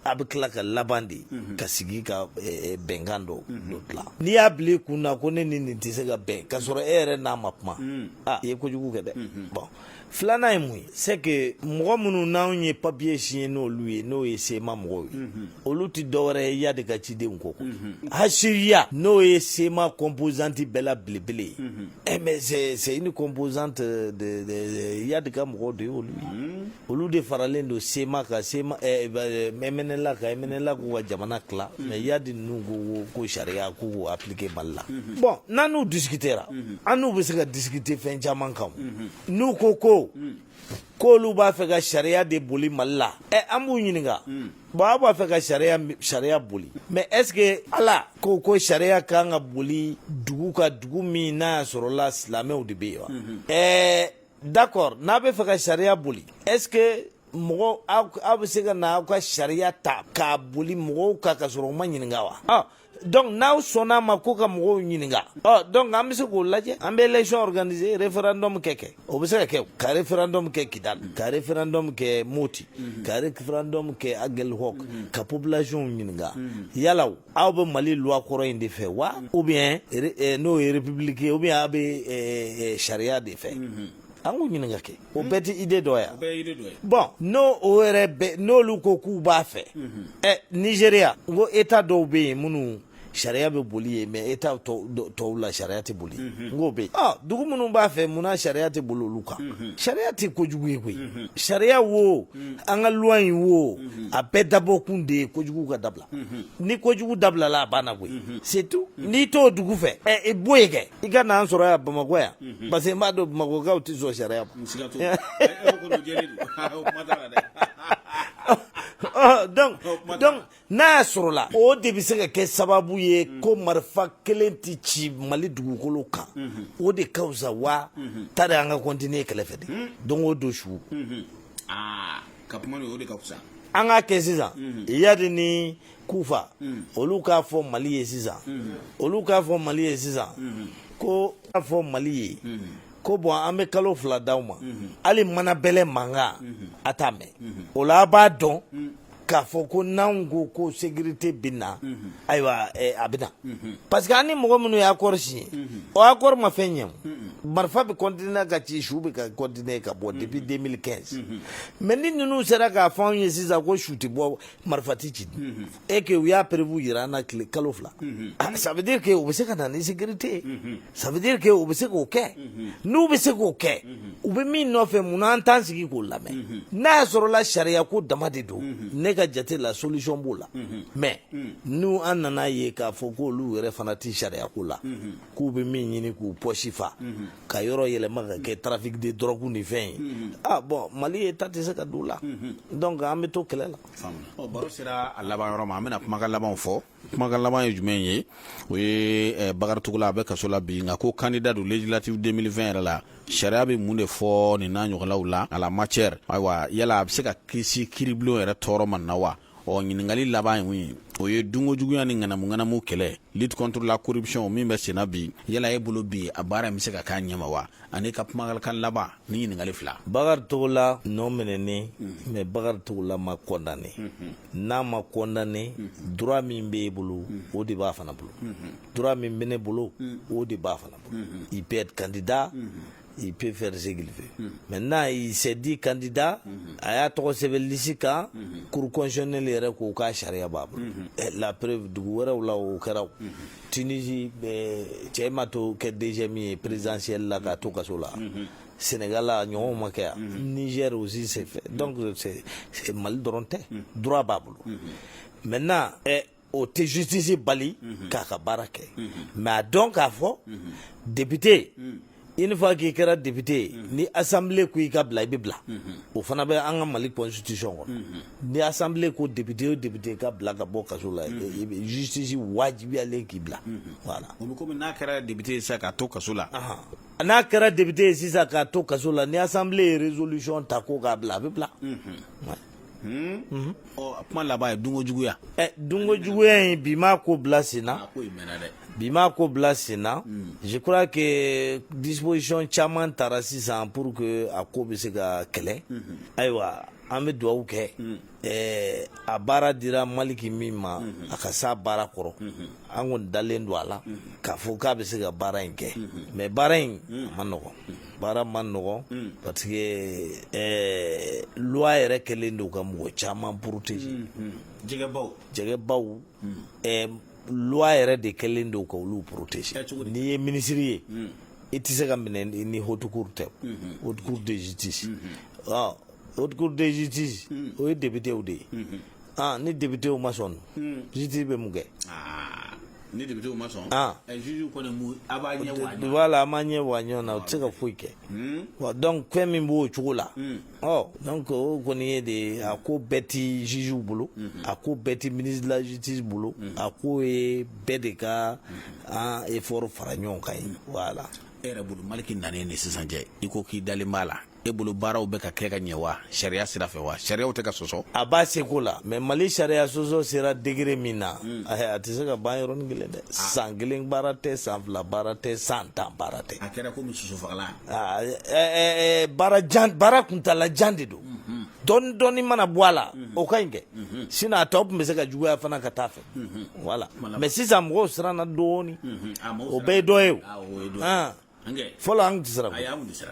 a bɛ tila ka laban de mhm. ka sigi ka eh, eh, bɛnkan dɔ mhm. dilan n'i y'a bila i kun na ko ne ni nin tɛ se ka bɛn ka sɔrɔ e yɛrɛ n'a ma kuma mhm. a i ye kojugu kɛ dɛ bon filanan ye mun ye c'est que mɔgɔ minnu n'anw ye papier signé n'olu ye n'o ye cma mɔgɔw ye olu tɛ dɔwɛrɛ ye yadi ka cidenw ko hcua n'o ye cma composante bɛɛ la belebele ye eh, mais c'est une composante de, de, de yadi ka mɔgɔw de ye olu ye olu de faralen don cma kan cma eh, eh, mnla kan mnla k'u ka jamana tila mais yadi ninnu ko ko sariya k'u k'u appliquer mali la bon n'an n'u discutera an n'u bɛ se ka discuter fɛn caman kan n'u ko ko k'olu b'a fɛ ka sariya de boli mali la ɛ eh, an b'u ɲininka bon aw b'a fɛ ka sariya sariya boli mais est ce que ala ko ko sariya kan ka boli dugu ka dugu min n'a y'a sɔrɔla silamɛw de bɛ yen wa ɛɛ d'accord n'a b'a fɛ ka sariya boli est ce que mɔgɔ aw bɛ se ka na aw ka sariya ta k'a boli mɔgɔw kan ka sɔrɔ u ma ɲininka wa ah, donc n'aw sɔnna a ma ko ka mɔgɔw ɲininka ɔ donc an bɛ se k'o lajɛ an bɛ élection organiser référendum kɛ kɛ o bɛ se ka kɛ ka référendum kɛ kidal ka référendum kɛ moti ka référendum kɛ aguelhok ka population ɲininka yala o aw bɛ mali loi kɔrɔ in de fɛ wa ou bien eh, n'o ye république ou bien aw bɛ eh, eh, sariya de fɛ mhm. an k'u ɲininka kɛ o bɛɛ tɛ idée dɔ ye bon n'o o yɛrɛ bɛ n'olu ko k'u b'a fɛ mhm. ɛ nigeria n ko état dɔw bɛ yen minnu sariya bɛ boli yen mais état tɔw la sariya tɛ boli mhm. n k'o bɛ yen ɔ dugu minnu b'a fɛ munna sariya tɛ boli olu kan sariya tɛ kojugu ye koyi sariya wo an ka loi in wo a bɛɛ dabɔkun de ye kojugu ka dabila ni kojugu dabilala a banna koyi c'est tout n'i t'o dugu fɛ ɛ i b'o ye kɛ i ka n'an sɔrɔ yan bamakɔ yan parce que n b'a dɔn bamakɔkaw tɛ sɔn sariya ma donc n'a y'a sɔrɔ la o de bɛ se ka kɛ sababu ye ko marifa kelen tɛ ci mali dugukolo kan o de ka fisa wa tari an ka continuer kɛlɛ fɛ de don o don su aa ka kuma o de ka fisa an k'a kɛ sisan iyadi ni kufa olu k'a fɔ mali ye sisan olu k'a fɔ mali ye sisan ko k'a fɔ mali ye ko bon an bɛ kalo fila d'aw ma hali mana bɛlɛ mankan a t'a mɛn o la a b'a dɔn k'a fɔ ko n'anw ko ko sécurité bɛ na ayiwa a bɛ na parce que an ni mɔgɔ minnu ye accord signé o accord ma fɛn ɲɛ o marifa bɛ continuer ka ci su bɛ ka continuer ka bɔ depuis 2015 mais ni ninnu sera k'a fɔ anw ye sisan ko su tɛ bɔ marifa tɛ ci et que u y'a preuve jira an na tile kalo fila ça veut dire que u bɛ se ka na ni sécurité ye ça veut dire que u bɛ se k'o kɛ n'u bɛ se k'o kɛ u bɛ min nɔfɛ munna an t'an sigi k'o lamɛn n'a y'a sɔrɔla sariya ko dama de don ne ka jate la solution b'o la mais ni an nana ye k'a fɔ ko olu yɛrɛ fana tɛ sariya ko la k'u bɛ min ɲini k'u poche fa ka yɔrɔ yɛlɛma ka kɛ trafic de drogue ni fɛn ye a bon mali état tɛ se ka don o la donc an bɛ to kɛlɛ la baro sera a laban yɔrɔ ma an bɛna kumakan labanw fɔ kumakan laban ye jumɛn ye o ye eh, bakari togola a bɛ kaso la bi nka ko candidat don législative 2020 yɛrɛ la sariya bɛ mun de fɔ nin n'a ɲɔgɔnlaw la en la matière ayiwa yala a bɛ se ka kisi kiiribulon yɛrɛ tɔɔrɔ ma na wa ɔ ɲininkali laban ye mun ye o ye dunko juguya ni ŋanamuŋanamu kɛlɛ lutte contre la corruption min bɛ senna bi yala e bolo bi a baara in bɛ se ka k'a ɲɛma wa an'i ka kumakan laban ni ɲininkali fila bakari togola nɔminɛnen mais bakari togola ma condamné n'a ma kɔndannen dura min b'e bolo o de b'a fana bolo dura min bɛ ne bolo o de b'a fana bolo i bɛ kandida i pe fɛri segin fɛ mɛ n'a y'i sɛdi kandida a y'a tɔgɔ sɛbɛnlisi kan kurukɔnɛ yɛrɛ k'o k'a sariya b'a bolo lapre dugu wɛrɛw la o kɛra tsi cɛ ma to kɛ dɛsɛ min ye perezsili la k'a to kaso la Sénégal la ɲɔgɔnw ma kɛ yan mhm. Niger aussi c'est fait mhm. donc c'est c'est Mali dɔrɔn tɛ mhm. droit b'a bolo maintenant eh, o tɛ justice bali k'a ka baara kɛ mais a dɔn k'a fɔ député une fois k'i kɛra député ye ni assemblée ko i ka bila i bɛ bila o fana bɛ an ka Mali constitution kɔnɔ ni assemblée ko député o député ka bila ka bɔ kaso la justice wajibiyalen k'i bila voilà o bɛ komi n'a kɛra député ye sisan k'a to kaso la n'a kɛra député ye sisan k'a to kaso la ni assemblée ye résolution ta ko k'a bila a bɛ bila. Hmm? Mhm. Oh, a kuma laban ye dunko juguya. ɛ eh, dunko juguya in bi m'a ko bila sen na. a ko in mɛnna dɛ. bi m'a ko bila sen na. Hmm. je crois que disposition caman tara sisan pour que a ko bɛ se ka kɛlɛ. Hmm. ayiwa an bɛ dugawu kɛ. Ɛɛ a baara dira maliki min ma a ka s'a baara kɔrɔ an kɔni dalen don a la k'a fɔ k'a bɛ se ka baara in kɛ mais baara in ma nɔgɔ baara ma nɔgɔ parce que loi yɛrɛ kɛlen don ka mɔgɔ caman protéger jɛgɛbaw loi yɛrɛ de kɛlen don ka olu protéger n'i ye minisiri ye i tɛ se ka minɛ ni haute cour tɛ haute cour de justice haute cour de justice o ye députéw de ye aa ni députéw ma sɔn justice bɛ mun kɛ ni députéw ma sɔn juge kɔni mu a b'a ɲɛ wa ɲɔgɔn voilà a ma ɲɛ wa ɲɔgɔn na o tɛ se ka foyi kɛ wa donc fɛn min b'o cogo la ɔ donc o kɔni ye de a ko bɛɛ tɛ jugew bolo a ko bɛɛ tɛ ministre de la justice bolo a ko ye bɛɛ de ka an efɔri fara ɲɔgɔn kan ye voilà e yɛrɛ bolo maliki nanen de sisan cɛ i ko k'i dalen b'a la e bolo baaraw bɛ ka kɛ ka ɲɛ wa sariya sira fɛ wa sariyaw tɛ ka sɔsɔ a b'a seko la mais mali sariya sɔsɔ sera degré min na hmm. a tɛ se ka ban yɔrɔnin kelen dɛ ah. san kelen baara tɛ san fila baara tɛ san tan baara tɛ a kɛra komi susufagalan ah, eh, eh, eh, baara jan baara kuntala jan de don mhm. dɔɔni dɔɔni mana bɔ a la mhm. o ka ɲi kɛ mhm. sinon a tɔ tun bɛ se ka juguya fana ka taa fɛ voilà mais sisan mɔgɔw siranna dɔɔni o bɛɛ ye dɔ ye o ah, fɔlɔ an tɛ siran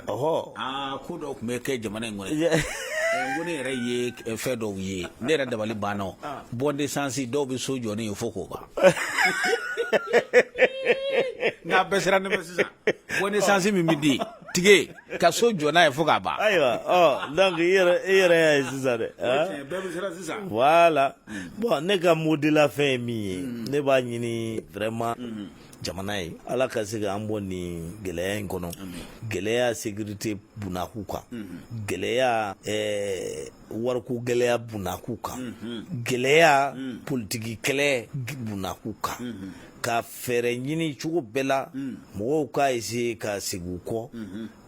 ɔhɔ ko dɔw tun bɛ kɛ jamana in kɔnɔ ko ne yɛrɛ ye fɛn dɔw ye ne yɛrɛ dabali banna bon d'essence dɔw bɛ so jɔ ne ye fo k'o ban n'a bɛɛ sera ne ma sisan bon d'essence min bɛ di tige ka so jɔ n'a ye fo k'a ban ayiwa ɔ donc i yɛrɛ i yɛrɛ y'a ye sisan dɛ bɛɛ bɛ siran sisan voilà bɔn ne ka mot de la fin ye min ye ne b'a ɲini vraiment jamana ye ala ka se ka an bɔ nin gɛlɛya in kɔnɔ gɛlɛya sécurité bunaku kan mhm. gɛlɛya eh, wariko gɛlɛya bunaku kan mhm. gɛlɛya mhm. politiki kɛlɛ bunaku kan ka fɛɛrɛ ɲini cogo bɛɛ la mɔgɔw k'a essayer ka segin u kɔ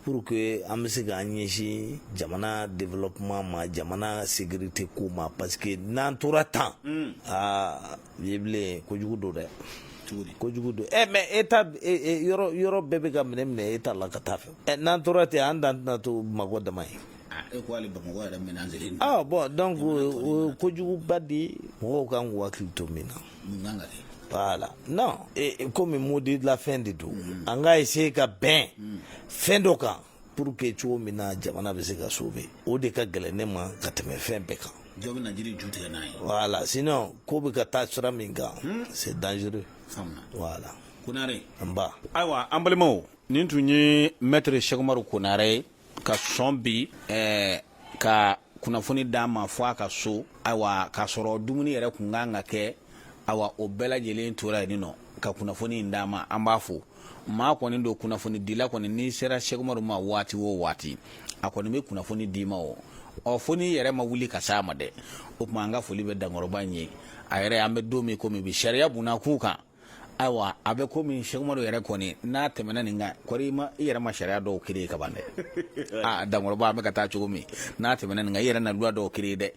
pour que an bɛ se k'an ɲɛsin jamana développement ma jamana sécurité ko ma parce que n'an tora tan aa ye bilen kojugu don dɛ kojugu don ɛ mais état yɔrɔ bɛɛ bɛ ka minɛ minɛ état la ka taa fɛ ɛ n'an tora ten an dan tɛna to bamakɔ dama ye e ko hali bamakɔ yɛrɛ menacélen ah bɔn donc o kojuguba de mɔgɔw kan k'u hakili to min na voilà non komi mot de la fin de don an ka essayer ka bɛn fɛn dɔ kan pour que cogo min na jamana bɛ se ka sauver o de ka gɛlɛn ne ma ka tɛmɛ fɛn bɛɛ kan dɔ bɛna jiri ju tigɛ n'a ye voilà sinon ko bɛ ka taa sira min kan hmm? c'est dangereux voilà konare nba ayiwa an balimaw nin tun ye maître sɛkumaru konare ye ka sɔn bi eh, ka kunnafoni d'an ma fɔ a ka so ayiwa k'a sɔrɔ dumuni yɛrɛ kun kan ka kɛ ayiwa o bɛɛ lajɛlen tora yen nɔ ka kunnafoni in d'an ma an b'a fo maa kɔni don kunnafoni dila kɔni n'i sera sɛkumaru ma waati o waati a kɔni bɛ kunnafoni d'i ma o ɔ fo n'i yɛrɛ ma wuli ka s'a ma dɛ o tuma an ka foli bɛ dankɔrɔba in ye a yɛrɛ an bɛ don min komi bi sariya bunna k'u kan ayiwa a bɛ komi sɛkumaru yɛrɛ kɔni n'a tɛmɛna nin kan kɔri ma i yɛrɛ ma sariya dɔw créer ka ban dɛ aa dankɔrɔba an bɛ ka taa cogo min n'a tɛmɛna nin kan i yɛrɛ na dɔw créer dɛ